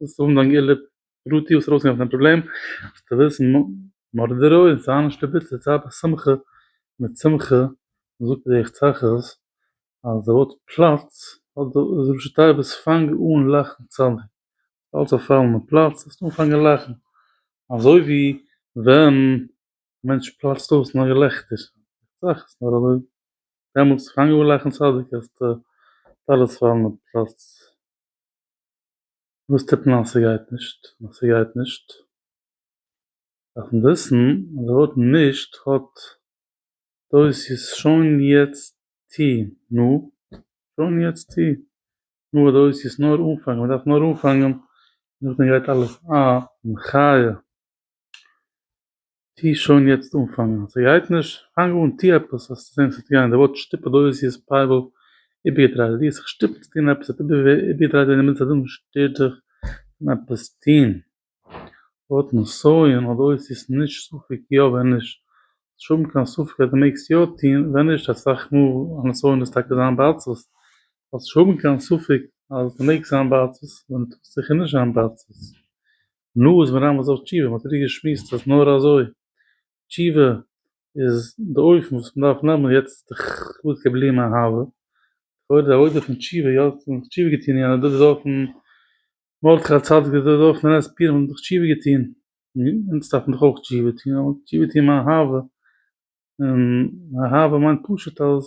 ווילסט האבן דיין געלע פרטי וואס ארויס גיין פון די פראבלעם זאלסטו וויסן מרדרו און ס'האט נישט די ביטער צייט ביי שמחה מיט שמחה זאגט ער איך צחק אז די ווארט פלאץ האט די ראשי תיבות פאנג אן לאכן צדיק אלץ זאל פאלן אין פלאץ זאלסטו אנפאנגען לאכן אזוי ווי ווען א מענטש פלאצט אויס אין א געלעכטער איך צחק נאר אזוי דעמאלטס פאנג אן לאכן צדיק אז די טלית פאלן אין פלאץ. וואס טוט מען אז ס'גייט נישט? אז ס'גייט נישט דארף מען וויסן אז די ווארט נישט האט דאס יס שוין יעצט טו נו שוין יעצט טו נו האט דאס יס נאר אנפאנגען מ'דארף נאר אנפאנגען נאכדעם גייט אלעס א מחיה. טוה שוין יעצט אנפאנגען, ס'גייט נישט? פאנג אן טוה עפעס, האסט זעהן ס'וועט גיין, די ווארט שטופד אויס ווי עס פייוול איבערגעדרייט, ווי האסט זיך שטופן צו טון עפעס, האט איבערגעדרייט ווען אינמיטן זיין און שטערט דיך פון עפעס טון, ווארט נסיון האט אויס ווי ס'נישט ספק יא ווען נישט, ס'נישט האבן קיין ספק אז די מעגסט יא טון, ווען נישט אסאך מאל א נסיון איז טאקע זיין בעצבות, זאלסט נישט האבן קיין ספק אז די מעגסט זיין בעצבות ווען די טוסט זיכער נישט זיין בעצבות, נו איז מיר איימאל זאל תשובה, מען האט איר געשמועסט אז נאר אזוי תשובה איז די אופן וואס מען דארף נעמען, יעצט איז דאך כבוד כבלי מאהבה, לכאורה די עבודה פון תשובה, יא מען האט תשובה געטון, יענער דוד האט אויפן מרדכי הצדיק, דוד האט אויפן ר' פירון האט מען דאך תשובה געטון, אונז דארף מען דאך אויך תשובה טון, אבער תשובה טון מאהבה, און אהבה מיינט פשוט אז.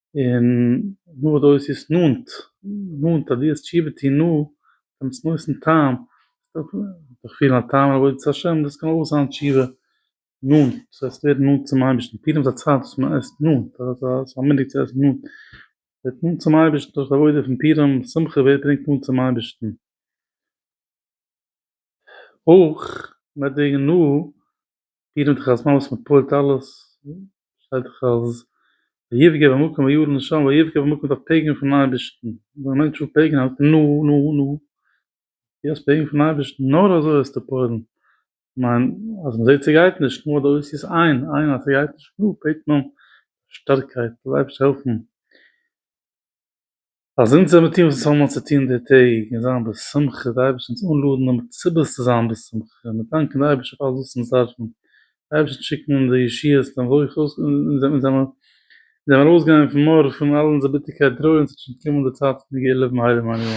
און נאר דאס איז עס נאנט, נאנט אז דו וועסט תשובה טון נאר דעם צנועסטן טעם, וועסטו דיך פילן א טעם לעבוד את ה', דאס קען אויך זיין תשובה נאנט, דאס הייסט ווערן נאנט צום אייבערשטן, פורים איז א צייט וואס מען עסט נאנט, ס'איז א מנהג צו עסן נאנט, ווערט נאנט צום אייבערשטן דורך די עבודה פון פורים, שמחה ווער ברענגט נאנט צום אייבערשטן, אויך מיט די נאר. דיר נעמט דאך אלס ממות מען פועל'ט אלעס, שטייט דאך אז ויפגע במקום וירא לשם ויפגע במקום דארף פעגען פון אייבערשטן, ווען א מענטש וויל פעגען האלט מען נו נו נו, דו האסט פעגען פון אייבערשטן נאר אזוי וועסטו פועל'ן, כ'מיין אז מען זעט ס'גייט נישט נו אדער עושה עין עין אז ס'גייט נישט נו בעט מען שטארקייט זאל אייבערשטער העלפן. אז אונז זעמיר טון וואס עס האמיר צו טון די טעג און זיין בשמחה, די אייבערשטער אונז אנלאדענען מיט סיבות צו זיין בשמחה, און מיר דאנקען די אייבערשטער פאר אלעס וואס אונז דארפן, די אייבערשטער שיקן אונז די ישועות און ברכות, און אונז זעמיר זעמיר ארויסגעגאנגען פון מורא פון אלע אונזערע ביטערקייט טרויערן ס'וועט שוין קומען די צייט פון די גאולה ביים הייליגן מנין.